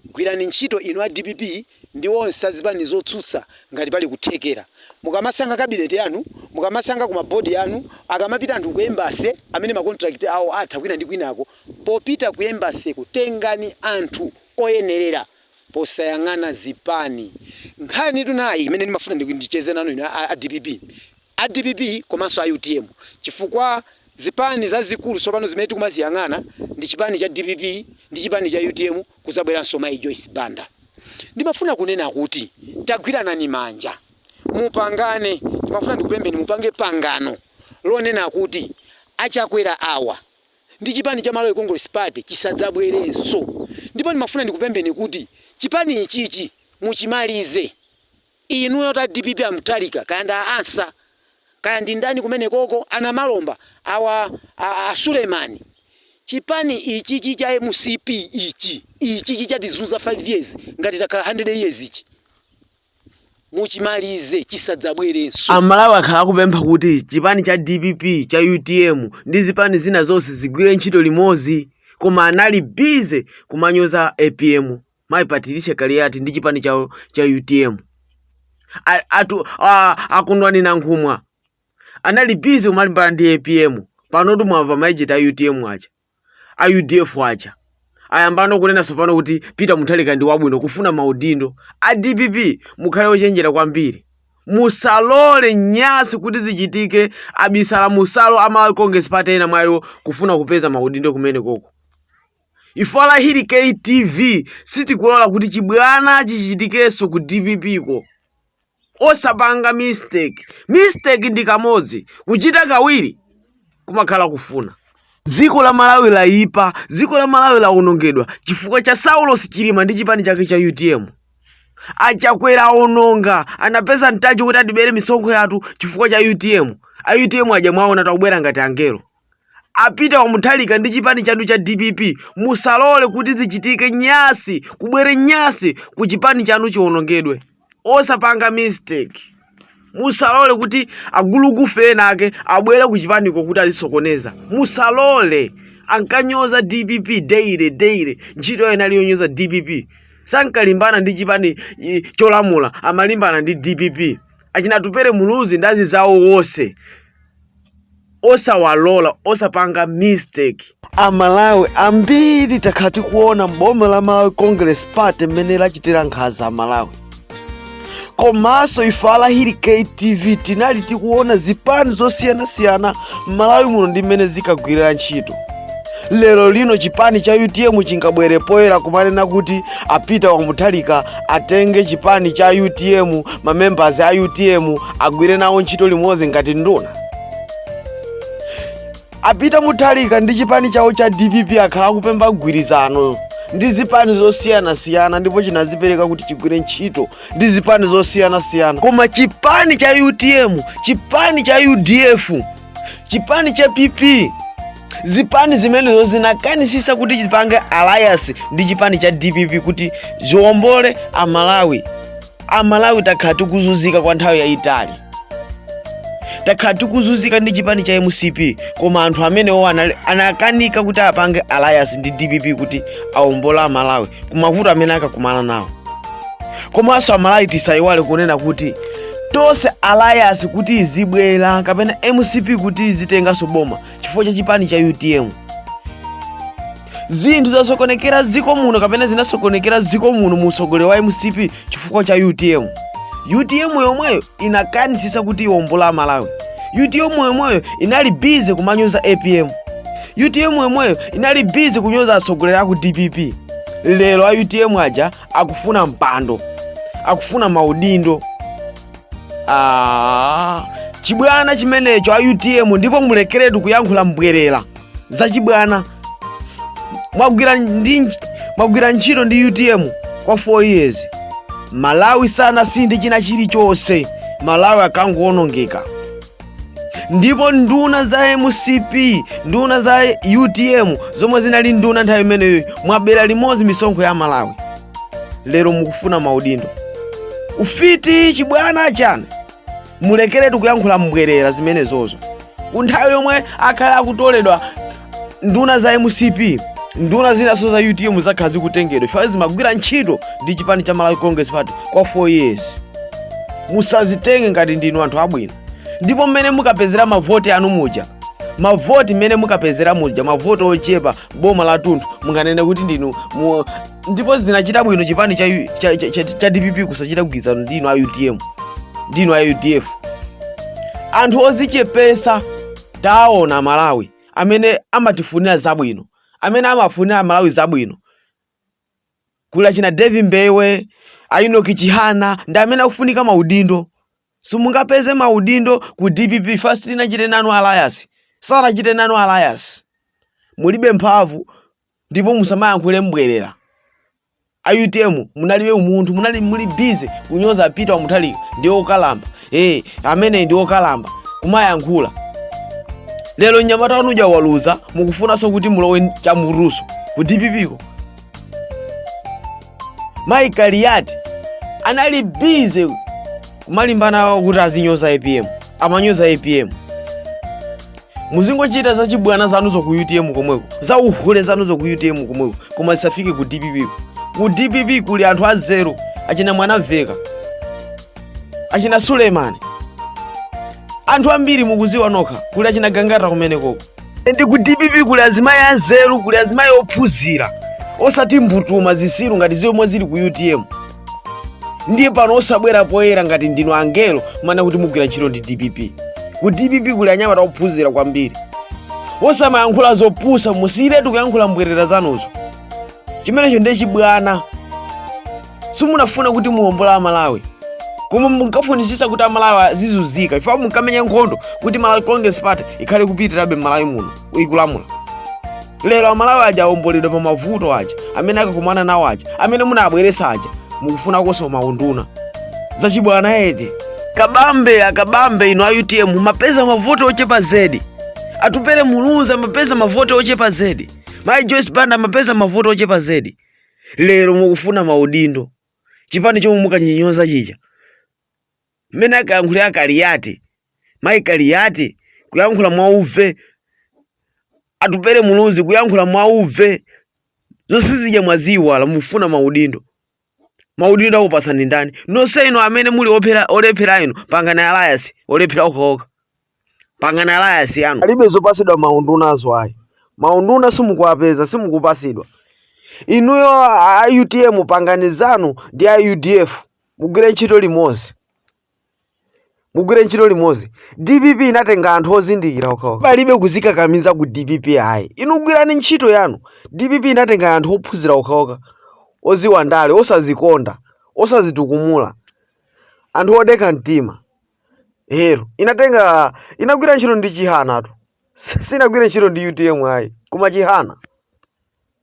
Gwirani ntchito inu a dpp ndi onse a zipani zotsutsa ngati pali kuthekera. Mukamasankha cabinet yanu, mukamasankha ku ma board anu, akamapita anthu ku embassy amene ma contract awo atha kwina ndi kwinako, popita ku embassy ko tengani anthu oyenerera posayang'ana zipani. Nkhanitu nayi imene ndimafuna ndicheze nanu inu a dpp. a dpp komanso a utm chifukwa zipani zazikulu tsopano zimene tikumaziyang'ana ndi chipani cha dpp ndi chipani cha utm kudzabweranso mayi Joyce Banda. Ndimafuna kunena kuti tagwiranani manja, mupangane, ndimafuna ndikupempheni mupange pangano lonena kuti a Chakwera awa ndi chipani cha Malawi Congress Party chisadzabwerenso ndipo ndimafuna ndikupempheni kuti chipani ichichi muchimalize. Inuyo ta dpp a Mutharika kaya ndi a Ansah kaya ndi ndani kumenekoko, a Namalomba awa, a a Suleman, chipani ichichi cha mcp ichi, ichichi chatizunza 5 years ngati takhala 100 years ichi muchimalize chisadzabwerenso. A Malawi akhala akupempha kuti chipani cha dpp, cha utm ndi zipani zina zonse zigwire ntchito limodzi koma anali busy kumanyoza apm mayi patricia kaliati ndi chipani chawo cha utm A- atu a- akondwani nankhumwa anali bizi kumalimbana ndi apm panotu mwamva ma agent a utm aja a udf aja ayambano kunena tsopano kuti peter muthalika ndi wabwino kufuna maudindo a dpp mukhale ochenjera kwambiri musalole nyasi kuti zichitike abisala musalo a malawi congress party ena mwa iwo kufuna kupeza maudindo kumenekoko Ife a Lahiri K TV sitikulola kuti chibwana chichitikenso ku dpp ko. Osapanga mistake. Mistake ndi kamodzi, kuchita kawiri kumakhala kufuna. Dziko la Malawi layipa, dziko la Malawi lawonongedwa chifukwa cha Saulos Chilima ndi chipani chake cha utm. A Chakwera awononga, anapeza mpata woti atibere misonkho yathu chifukwa cha utm. A utm aja mwaonatu akubwera ngati angelo. A Peter wa Mutharika ndi chipani chanu cha dpp musalole kuti zichitike nyasi kubwere nyasi ku chipani chanu chionongedwe. Osapanga mistake. Musalole kuti agulugufe ena ake abwere ku chipaniko kuti azisokoneza. Musalole. Ankanyoza dpp daily daily. Ntchito yawo inali yonyoza dpp. Sankalimbana ndi chipani i, cholamula amalimbana ndi dpp. Achina Atupere Muluzi ndi anzizawo onse osawalola osapanga mistake amalawi ambiri takhala tikuona boma la malawi congress party mmene lachitira nkhanza amalawi komanso ife alahiri ktv tinali tikuona zipani zosiyanasiyana m'malawi muno ndi mmene zinkagwirira ntchito lero lino chipani cha utm chingabwere poyera kumanena kuti a Peter wa Mutharika atenge chipani cha utm mamembers a utm agwire nawo ntchito limodzi ngati nduna a Peter Mutharika ndi chipani chawo cha dpp akhala akupemba gwirizano ndi zipani zosiyanasiyana ndipo chinadzipereka kuti chigwire ntchito ndi zipani zosiyanasiyana koma chipani cha utm chipani cha udf chipani cha pp zipani zimenezo zinakanitsitsa kuti zipange alliance ndi chipani cha dpp kuti ziombole amalawi amalawi takhala tikuzunzika kwa nthawi yayitali takhala tikuzunzika ndi chipani cha mcp koma anthu amenewo anali- anakanika kuti apange alliance ndi dpp kuti aombole amalawi kumavuto amene akakumana nawo komanso amalawi tisayiwale kunena kuti tonse alliance kuti idzibwera kapena mcp kuti idzitenganso boma chifukwa cha chipani cha utm zinthu zasokonekera dziko muno kapena zinasokonekera dziko muno mu usogoleri wa mcp chifukwa cha utm utm yomweyo inakanitsitsa kuti iwombole amalawi utm yomweyo inali busy kumanyoza apm utm yomweyo inali busy kunyoza atsogoleri aku dpp lero a utm aja akufuna mpando akufuna maudindo ah, chibwana chimenecho a utm ndipo mulekeretu kuyankhula mbwerera za chibwana mwagwira ndi mwagwira ntchito ndi utm kwa 4 years malawi sanasinthe china chilichonse malawi akangoonongeka ndipo nduna za mcp nduna za utm zomwe zinali nduna nthawi imeneyo mwabera limodzi misonkho ya amalawi lero mukufuna maudindo ufiti chibwana chanu mulekeretu kuyankhula mbwerera zimenezo ku nthawi yomwe akhala akutoleledwa nduna za mcp nduna zinanso za utm zakhala zikutengedwa chifukwa zimagwira ntchito ndi chipani cha malawi congress party kwa 4 years musadzitenge ngati ndinu anthu abwino ndipo mmene munkapezera mavoti anu muja mavoti mmene munkapezera muja mavoti ochepa boma la tunthu munganene kuti ndinu mu... ndipo zinachita bwino chipani cha, U- cha, cha, cha, cha dpp kusachita mgwirizano ndinu a utm ndinu a udf anthu odzichepetsa Taona amalawi amene amatifunira zabwino amene amafunira amalawi zabwino kuli achina Davie Mbewe, a Enoch Chihana ndi amene akufunika maudindo. Simungapeze maudindo ku dpp chifukwa sitinachite nanu alliance, sanachite nanu alliance. Mulibe mphamvu ndipo musamayankhule mbwerera a utm munalibe umunthu munali muli bize kunyoza Peter wa Mutharika ndi okalamba ee amene ndi okalamba kumayankhula lero mnyamata wanu uja waluza mukufunanso kuti mulowe chamulusu ku dppko mayi kaliyati anali bize kumalimbana kuti azinyoza apm amanyoza apm muzingochita za chibwana zanuzo ku utm komweko za uhule zanuzo ku utm komweko koma zisafike ku dpp ku dpp kuli anthu anzeru achina Mwanamvekha achina Sulemani anthu ambiri mukuziwa nokha kuli achina gangata kumenekoko ndi ku dpp kuli azimayi anzeru kuli azimayi ophunzira osati mbutuma zisiru ngati zomwe zili ku utm ndiye pano osabwera poyera ngati ndinu angelo kumanena kuti mugwira ntchito ndi dpp ku dpp kuli anyamata ophunzira kwambiri osamayankhula zopusa musiyiretu kuyankhula mbwerera zanuzo chimenecho ndiye chibwana simunkafuna kuti muwombole amalawi koma munkafunitsitsa kuti amalawi azizunzika chifukwa munkamenya nkhondo kuti malawi congress party ikhale kupitirabe mmalawi muno ikulamula lero amalawi aja awomboledwa pa mavuto aja amene akakumana nawo aja amene munabweresa aja mukufuna kusomanso maunduna zachibwana eti kabambe a Kabambe inu a utm mumapeza mavoti ochepa zedi Atupele Muluzi amapeza mavoti ochepa zedi mayi joyce banda amapeza mavoti ochepa zedi lero mukufuna maudindo chipani chomwe munkachinyoza chija mmene ankayankhulira a Kaliyati mayi kaliyati kuyankhula mwauve Atupele muluzi kuyankhula mwauve zonse zija mwaziyiwala mufuna maudindo maudindo akupasani ndani nonse inu amene muli olephera olephera inu pangani alayasi olephera okhaokha Pangani alliance yanu. Palibe zopasidwa maundunazo ayi. Maunduna simukuwapeza, simukupasidwa. Inuyo a utm pangani zanu ndi a udf mugwire ntchito limozi. Mugwire ntchito limozi. DPP inatenga anthu ozindikira okhawo. Palibe kuzikakamiza ku DPP ayi. Inu gwirani ntchito yanu. DPP inatenga anthu ophunzira okhaokha oziwa ndale, osazikonda, osazitukumula, anthu odekha mtima. lero inatenga inagwira ntchito ndi Chihanatu sinagwire ntchito ndi utm ayi koma chihana